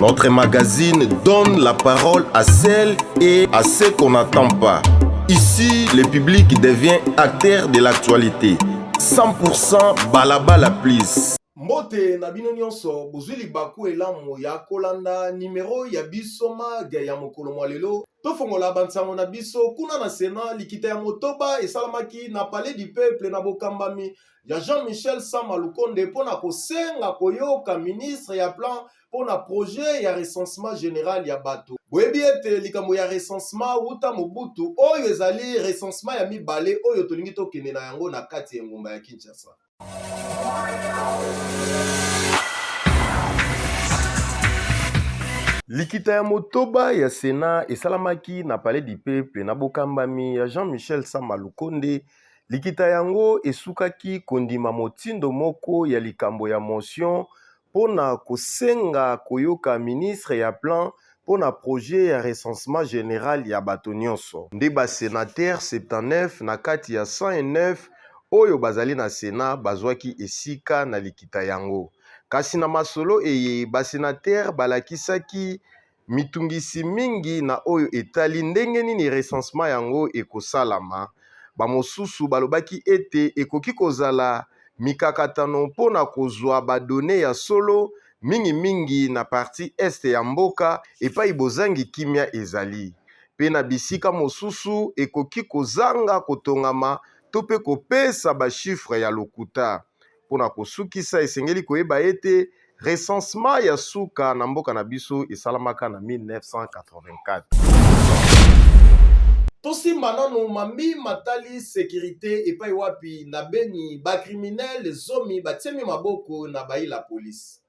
Notre magazine donne la parole à celles et à ceux qu'on n'attend pas. Ici, le public devient acteur de l'actualité. 100% balabala please. mbote na bino nyonso bozwi libaku elamu ya kolanda nimero ya biso mage ya mokolo mwa lelo tofongola bansango na biso kuna na sena likita ya motoba esalamaki na palais du peuple na bokambami ya Jean-Michel Sama Lukonde mpo na kosenga koyoka ministre ya plan mpo na projet ya recensement general ya bato. Boyebi ete likambo ya recensement wuta Mobutu, oyo ezali recensement ya mibale oyo tolingi tokende na yango na kati ya engumba ya Kinshasa. Likita ya motoba ya Sena esalamaki na Palais du Peuple na bokambami ya Jean-Michel Sama Lukonde Likita yango esukaki kondima motindo moko ya likambo ya motion mpo na kosenga koyoka ministre ya Plan mpo na projet ya recensement general ya bato nyonso. Nde ba senateurs 79 na kati ya 109 oyo bazali na Senat bazwaki esika na likita yango. Kasi na masolo eye, ba senateurs balakisaki Mitungisi mingi na oyo etali ndenge nini recensement yango ekosalama. Bamosusu balobaki ete ekoki kozala mikakatano mpo na kozwa ba donnees ya solo, mingimingi na partie est ya mboka epai bozangi kimya ezali, mpe na bisika mosusu ekoki kozanga kotongama to mpe kopesa ba chiffres ya lokuta. Mpo na kosukisa, esengeli koyeba ete recensement ya suka na mboka na biso esalamaka na 1984. Tosimba nano mambi matali securite epai wapi na Beni ba criminels zomi batiemi maboko na bayi la police.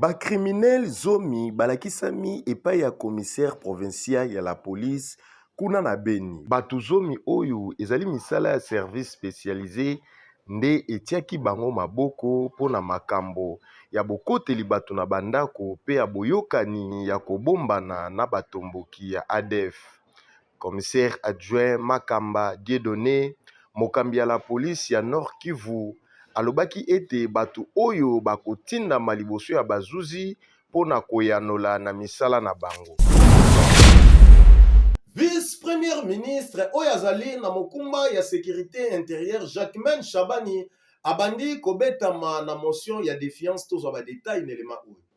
Bakriminele zomi balakisami epai ya commissaire provincial ya la police kuna na Beni. Bato zomi oyo ezali misala ya service specialise nde etiaki bango maboko mpo na makambo ya bokoteli bato na bandako mpe ya boyokani ya kobombana na batomboki ya ADF. Commissaire adjoint Makamba Dieudonne, mokambi ya la police ya Nord-Kivu, alobaki ete bato oyo bakotindama liboso ya bazuzi mpo na koyanola na misala na bango. Vice-Premier ministre oyo azali na mokumba ya securite interieure, Jacquemain Shabani, abandi kobetama na motion ya defiance. Tozwa ba details na elema oyo.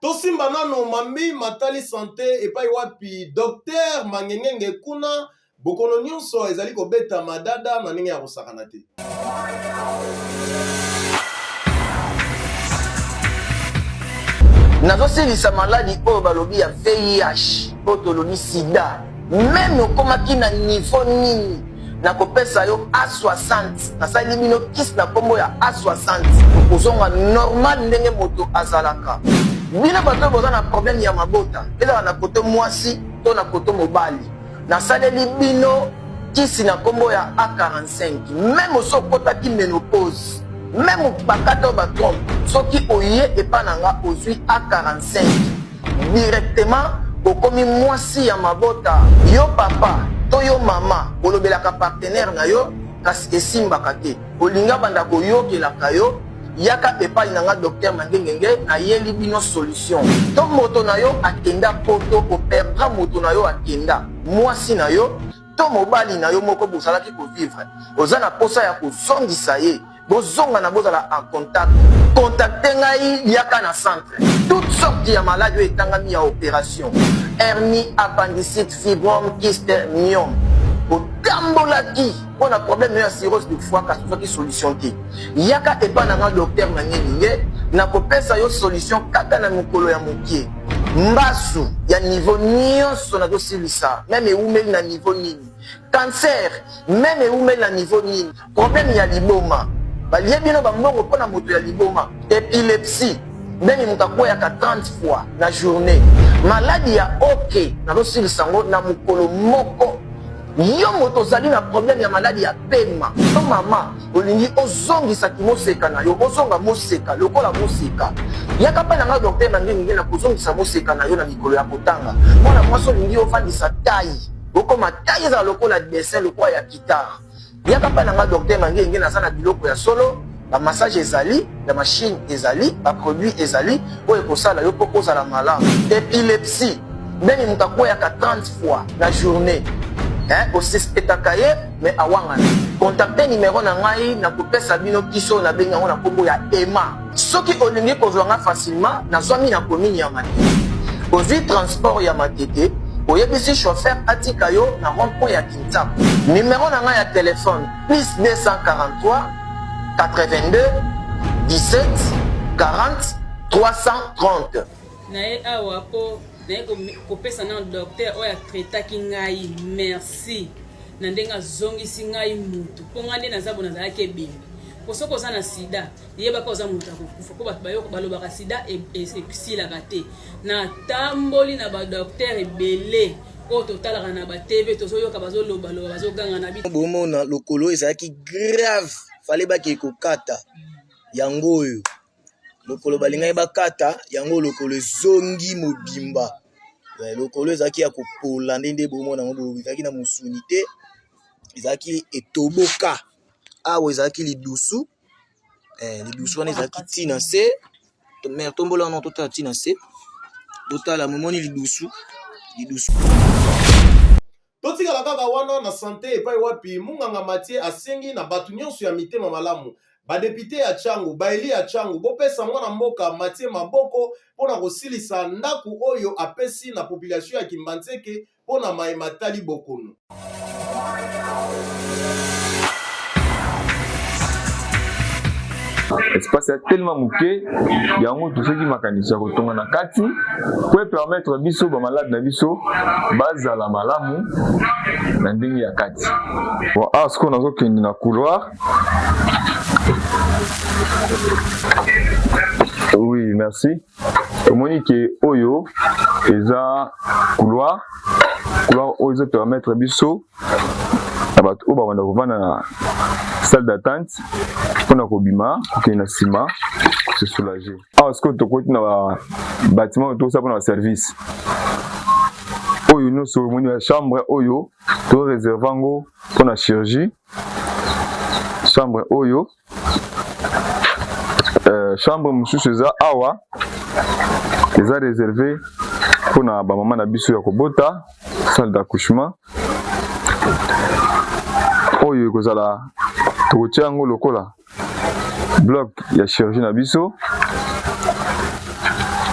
Tosimba nano mambi matali sante epai wapi Docteur Mangengenge kuna bokono nyonso ezali kobeta madada na ndenge ya kosakana te. nazosilisa maladi oyo balobi ya vih oyo tolobi sida meme okomaki na nivo nini nakopesa yo a60 nasaleli bino kisi na nkombo ya a60 okozonga normal ndenge moto azalaka bino bato oyo boza na probleme ya mabota ezala na koto mwasi to na koto mobali nasaleli bino kisi na nkombo ya a45 meme osi okotaki menopause meme bakata oyo batrompe soki oye epa na nga ozwi a45 directement okomi mwasi ya mabota yo papa to yo mama olobelaka partenaire na yo kasi esimbaka te olinga banda koyokelaka yo yaka epai na nga docteur mangengenge nayeli bino solution to moto na yo akenda poto operdra moto na yo akenda mwasi na yo to mobali na yo moko bozalaki kovivre oza na mposa ya kozongisa ye bozonga na bozala en contact contacte ngai yaka na centre toute sorte ya maladi oyo etangami ya opération hernie appendicite fibrome kiste miome otambolaki mpo na problème oyo ya cirrhose du foie kasi ozwaki solution te yaka epai na nga docteur manyelinge nakopesa yo solution kaka na mokolo ya mokie mbasu ya niveau nyonso nazosilisa meme ewumeli na niveau nini cancer meme ewumeli na niveau nini Problème ya liboma. Balie bino ba mbongo mpo na moto ya liboma. Epilepsie. Beni moto akweyaka 30 fois na journée. Maladi ya OK. Nazosilisa yango na mokolo moko. Yo moto ozali na problème ya maladi ya pema. Yo mama olingi ozongisa kimoseka na yo. Ozonga moseka lokola moseka. Yaka mpe na nga docteur na ndenge na kozongisa moseka na yo na mikolo ya kotanga. Mwana mwasi olingi ofandisa taille. Okoma taille ezala lokola dessin lokola ya guitare. yaka mpa na nga docteur mangenge naza na biloko ya solo bamassage ezali ya mashine ezali baproduit ezali oyo ekosala yo mpo kozala malamu epilepsie ndenge moto akweyaka 30 fois na journée osespetaka ye me awangana kontakte nimero na ngai na kopesa bino kisi oyo nabengi yango na nkombo ya ema soki olingi kozwa ngai facilement nazwami na komini ya matete ozwi transport ya matete oyebisi chauffeur atika yo na rond point ya WhatsApp. Numero na nga ya telefone plus 243 82 17 40 330. naye awa po naye kopesa na docteur oyo atraitaki ngai merci na ndenge azongisi ngai mutu mpo ngai nde naza bo nazalaki ebembe mpo soki oza na sida yebaka oza moto ya kokufa mpo bato bayoko balobaka sida e, e, esilaka te natamboli na badoktere ebele oyo totalaka na ba TV tozoyoka bazoloba loba bazoganga na bi bomona lokolo ezalaki grave fale bake kokata yango oyo lokolo balingaki bakata yango lokolo ezongi mobimba eh, lokolo ezalaki ya kopola nde nde bomona yango boye ezalaki na mosuni te ezalaki etoboka awa ezalaki lidusu eh, lidusu wana ezalaki ti na se mare tombola wana totala ti na se totala momoni lidusu lidusu totikala kaka wana na sante epai wapi munganga matie asengi na bato nyonso ya mitema malamu badepute ya changu baeli ya changu bopesa mwana mboka matie maboko mpo na kosilisa ndako oyo apesi na population ya kimbanseke mpo na maye matali bokono. espace ya telema moke yango toseki makanisi ya kotonga na kati po epermettre biso bamalade na biso bazala malamu na ndenge ya kati bon awa ah, sikoyo nazokende na couloir oui merci tomoni ke oyo eza couloir couloir oyo ezo permettre biso na bato oyo babanda kovanda na salle d'attente mpona kobima kokende na nsima se soulager awa sikoyo tokoti na babatima oyo tokosala mpona baservice oyo nyonso omoni ya chambre oyo to reserve yango mpona chirurgie chambre oyo euh, chambre mosusu eza awa eza réservé mpona bamama na biso ya kobota salle d'accouchement oyo ekozala tokotia yango lokola bloc ya chirurgie na biso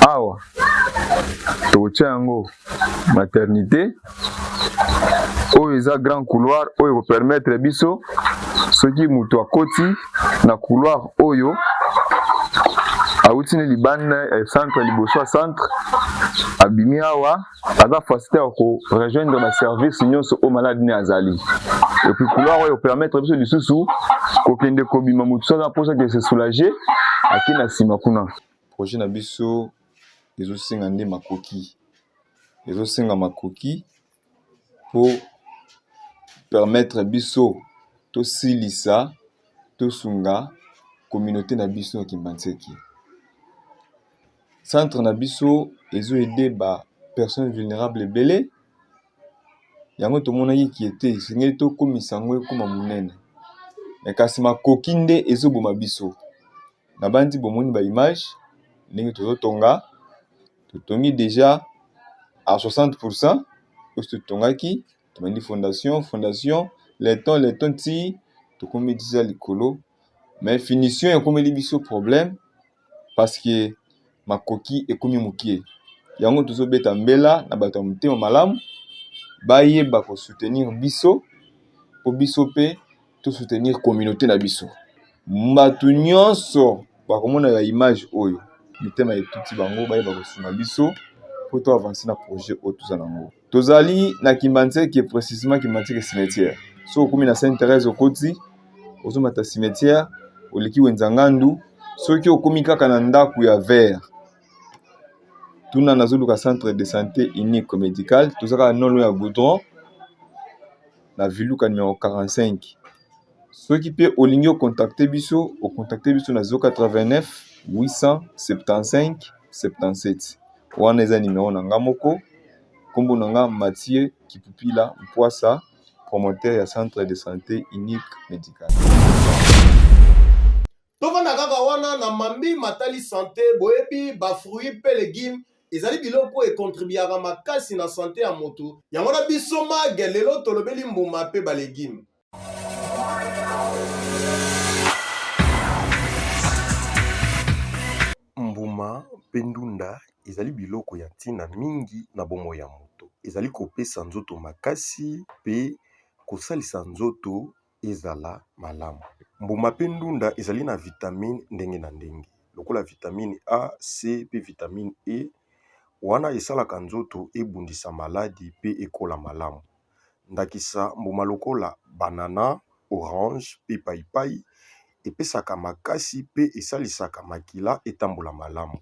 awa tokotia yango maternité oyo eza grand couloir oyo ekopermettre biso soki moto akoti na couloir oyo awuti ne libanda ya eh, centre liboso ya centre abimi awa aza facilité ya korejoindre baservice nyonso oyo maladi ne azali epuis couloir oyo ekopermettre biso lisusu kokende kobima motu so aza mposa ke se soulage ake na nsima kuna projet na biso ezosenga nde makoki ezosenga makoki po permettre biso tosilisa tosunga communaute na biso ya kimbanseke centre na biso ezo ede ba personnes vulnerable ebele yango tomonaki kiete esengeli tokomisa yango ekoma monene kasi makoki nde ezoboma biso. na banzi bomoni ba image ndenge tozotonga totongi deja a 60 pourcent osi totongaki tobandi fondation fondation leton leton ti tokomi deja likolo mais finition ekomeli biso problème parce que makoki ekomi mokie yango tozobeta mbela na bato ya motema malamu bayeba kosoutenir biso po biso pe to soutenir communauté na biso bato nyonso bakomona ya image oyo mitema etuti bango bayeba kosunga biso mpo to avanse na projet oyo toza na yango tozali na kimbanseke précisement kimbanseke cimetière so okomi na sainte thérèse okoti ozomata cimetière oleki wenza ngandu soki okomi kaka na ndako ya vert tuna nazoluka centre de santé unique médical toza kaka nolo ya goudron na viluka numero 45 soki mpe olingi okontakte biso okontakte biso na 089 875 77 wana eza nimero na nga moko nkombo na nga mathieu kipupila mpwasa promoteur ya centre de santé unique médical tofanda kaka wana na mambi matali sante boyebi bafruit mpe legume ezali biloko oyo ekontribiaka makasi na sante ya moto yango wana biso mage lelo tolobeli mbuma mpe balegume mbuma mpe ndunda ezali biloko ya ntina mingi na bomoi ya moto ezali kopesa nzoto makasi mpe kosalisa nzoto ezala malamu. Mbuma pe ndunda ezali na vitamine ndenge na ndenge lokola vitamine A, C pe vitamine E wana esalaka nzoto ebundisa maladi pe ekola malamu ndakisa mbuma lokola banana, orange pe payipayi epesaka makasi pe esalisaka makila etambola malamu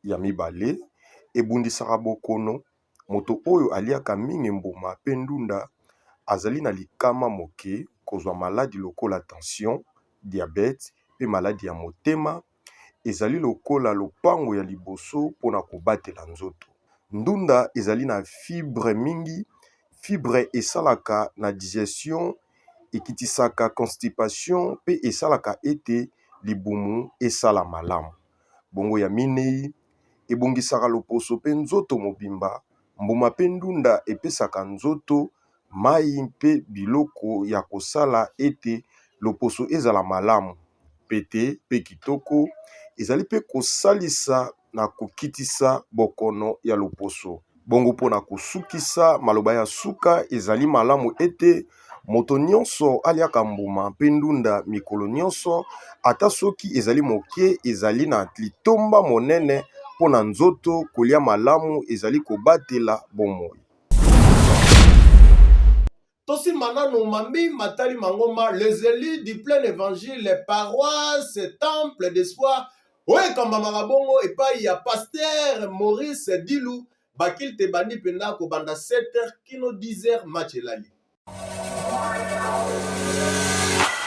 ya mibale ebundisaka bokono Moto oyo aliaka mingi mbuma pe ndunda azali na likama moke kozwa maladi lokola tension, diabete pe maladi ya motema. Ezali lokola lopango ya liboso pona kobatela nzoto. Ndunda ezali na fibre mingi, fibre esalaka na digestion, ekitisaka constipation pe esalaka ete libumu esala malamu. Bongo ya minei. ebongisaka loposo mpe nzoto mobimba, mbuma mpe ndunda epesaka nzoto mayi mpe biloko ya kosala ete loposo ezala malamu pete pe kitoko ezali pe kosalisa na kokitisa bokono ya loposo. Bongo mpo na kosukisa, maloba ya suka ezali malamu ete, Moto nyonso alyaka mbuma mpe ndunda mikolo nyonso, ata soki ezali moke, ezali na litomba monene mpo na nzoto, kolya malamu ezali kobatela bomoi. tosimba nanu mambi matali mangomba les élus du plein évangile les paroisses temple d'espoir oyo ekambamaka bongo epai ya pasteur maurice dilu bakilte ebandi mpenza kobanda 7 heures kino 10 heures match elali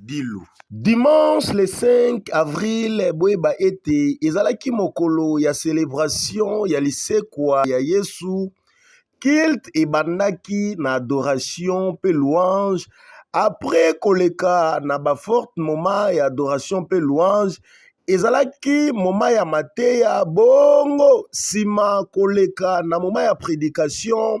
Dilu. Dimanche le 5 avril boyeba ete ezalaki mokolo ya celebration ya lisekwa ya Yesu. Culte ebandaki na adoration mpe louange. Après koleka na ba forte moment ya adoration mpe louange, ezalaki moment ya mateya bongo nsima koleka na moment ya predication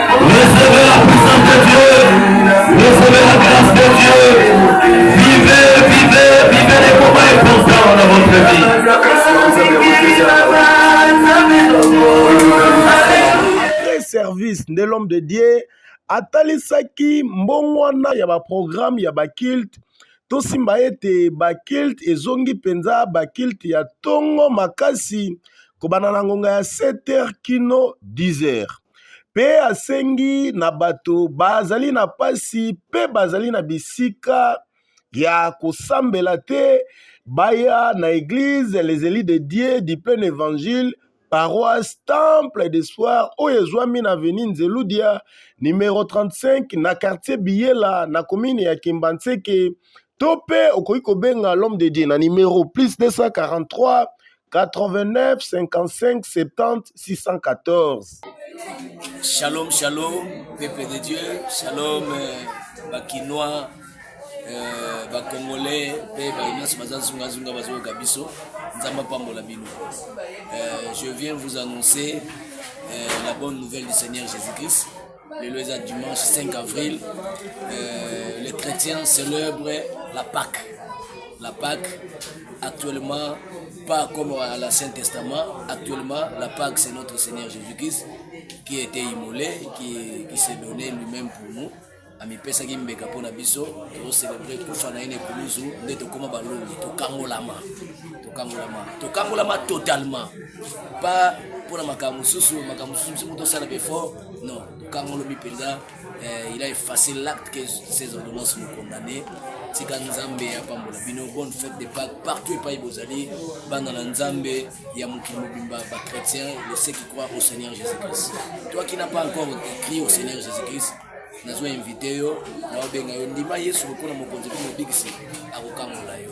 service nde l'homme de Dieu atalisaki mbongwana ya baprograme ya bakilte tosimba ete bakilte ezongi mpenza bakilte ya ntongo makasi kobanda na ngonga ya 7 heures kino 10 heures mpe asengi na bato bazali na mpasi mpe bazali na bisika ya kosambela te baya na eglise les elis de dieu du plein évangile paroisse temple de soir oyo ezwami na aveni nzeludia numero 35 na quartier biyela na komine ya kimbanseke to mpe okoki kobenga l'homme de dieu na numero plus 243 89 55 70 614 shalom shalom peuple de dieu shalom euh, bakinois euh, bacongolais mpe baye nyonso baza zungazunga bazoyoka biso nzambe apambola bino euh, je viens vous annoncer euh, la bonne nouvelle du seigneur jésus christ Lelo eza dimanche 5 avril, euh, les chrétiens célèbrent la Pâque. La Pâque, actuellement, pas comme à l'Ancien Testament, actuellement, la Pâque, c'est notre Seigneur Jésus-Christ qui a été immolé, qui, qui s'est donné lui-même pour nous. amipesaki mbeka mpo na biso tozocelebre kufa na ye na ekulusu nde tokóma balongi tokangolama tokangolama tokangolama totalement pa mpo na makambo mosusu makambo mosusu mosusu motosala befort Non, quand on le Penza, euh, il a effacé l'acte que ces ordonnances nous condamnaient. tika nzambe ya pambola bino bonne fête de pâques partout epai bozali bana na nzambe ya mokili mobimba bachrétien le ceux qui croient au seigneur jésus christ toi qui n'a pas encore écrit au seigneur jésus christ nazwa invite yo naobenga yo ndima yesu lokola mokonzi mpe mobikisi akokangola yo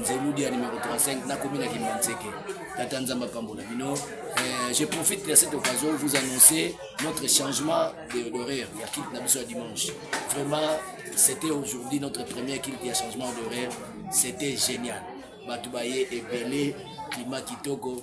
nzeludi ya numero 35 nakomi na kimbanseke tata nzambe apambola bino euh, je profite de cette occasion vous annoncer notre changement d'horaire ya kilte na biso ya dimanche vraiment c'était aujourd'hui notre première kilte ya changement d'horaire c'était génial bato baye ebele klima kitoko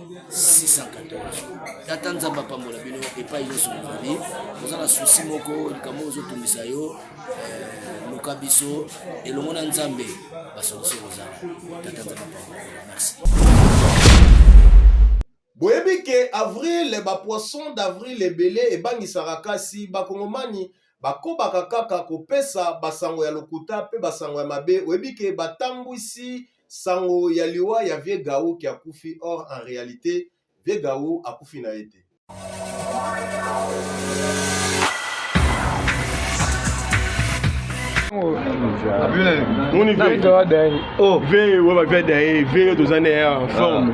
614 tata nzambe apambola bino epai nyonso bozali oza na susi moko likambo ozotungisa yo eh, luka biso elongo na nzambe basolusi kozala tata nzambe apambola merci boyebi ke avril bapoisson d'avril ebele ebangisaka kasi bakongomani bakobaka kaka kopesa basango ya lokuta mpe basango ya mabe oyebi ke batambwisi Sango ya liwa ya vieux Gaou qui akufi or en realite vieux Gaou akufi na ye te. Moni vieux. Vieux, ouais, vieux, vieux, toza na ye en forme.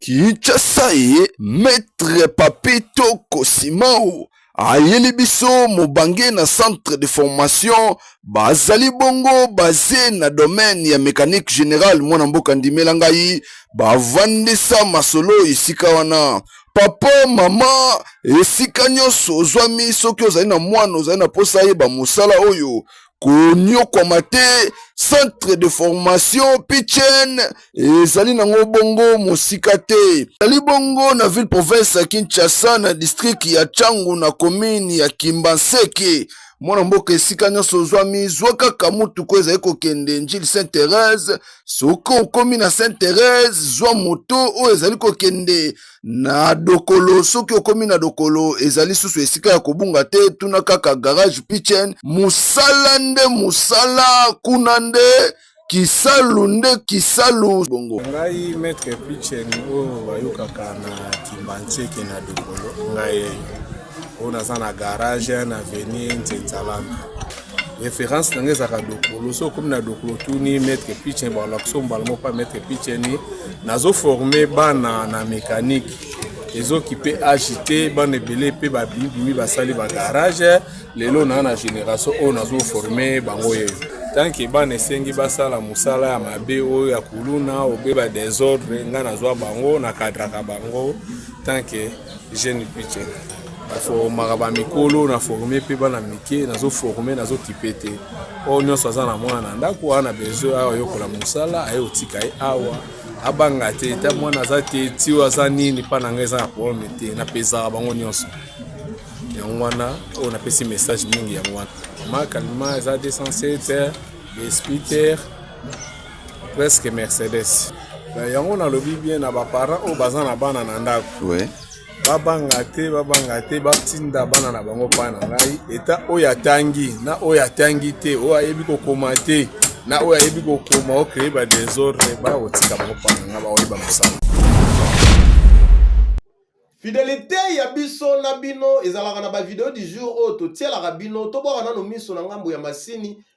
Kinshasa ye Maître Papy Toko Simao ayeli biso mobange na centre de formation bazali bongo base na domaine ya mécanique générale mwana mboka ndimela ngai bavandisa masolo esika wana papa mama esika nyonso ozwami soki ozali na mwana ozali na mposa ayeba mosala oyo konyokwama te centre de formation pichen ezali nango bongo mosika te ezali bongo na ville province ya kinshasa na district ya changu na commune ya kimbanseke mwana mboka esika nyonso ozwami zwa kaka motuku ezali kokende njili saint therese soki okomi na saint therese zwa moto oyo ezali kokende na dokolo soki okomi na dokolo ezali susu esika ya kobunga te tuna kaka garage pitchen mosala nde mosala kuna nde kisalu nde kisalu bongo ngai maître pitchen oyo bayokaka na kimbanseke na dokolo ngai oyo naza na garage na avenue nzenzalana référence na ngai ezalaka dokolo so okomi na dokolo tuni maître pichen balakisa mbala moko pa maître picheni nazoforme bana na mécanique ezokipe age te bana ebele mpe babimibimi basali bagarage lelo naa na génération oyo nazoforme bango yeyo tanke bana esengi basala mosala ya mabe oyo ya kuluna obe badesordre ngai nazwa bango nakadraka bango tanke jeune piche naformaka bamikolo na forme mpe bana mike nazoforme nazokipe te oyo nyonso aza na mwana na ndako wana besoin awa ayokola mosala aye otika ye awa abanga te ta mwana aza te ti oyo aza nini mpa na ngai eza na probleme te napesaka bango nyonso yango wana oyo napesi message mingi yango wana makalima eza 207 espiter presque mercedes na yango nalobi bien na baparent oyo baza na bana na ndako ouais. babanga te babanga te batinda bana na bango mpa na ngai eta oyo atangi na oyo atangi te oyo ayebi kokoma te na oyo ayebi kokoma okreye badesordre baya kotika bango mpa na ngai baoyeba mosala fidelite ya biso na bino ezalaka na bavideo du jour oyo totielaka bino tobwaka nano miso na ngambo ya masini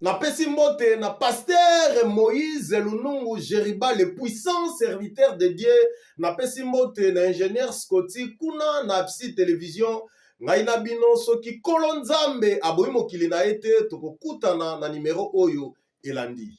napesi mbote na pastere moïse lunungu jeriba le puissant serviteur de dieu napesi mbote na ingénieur scoti kuna na psy télévision ngai na bino soki nkolo nzambe aboyi mokili na ye te tokokutana na nimero oyo elandi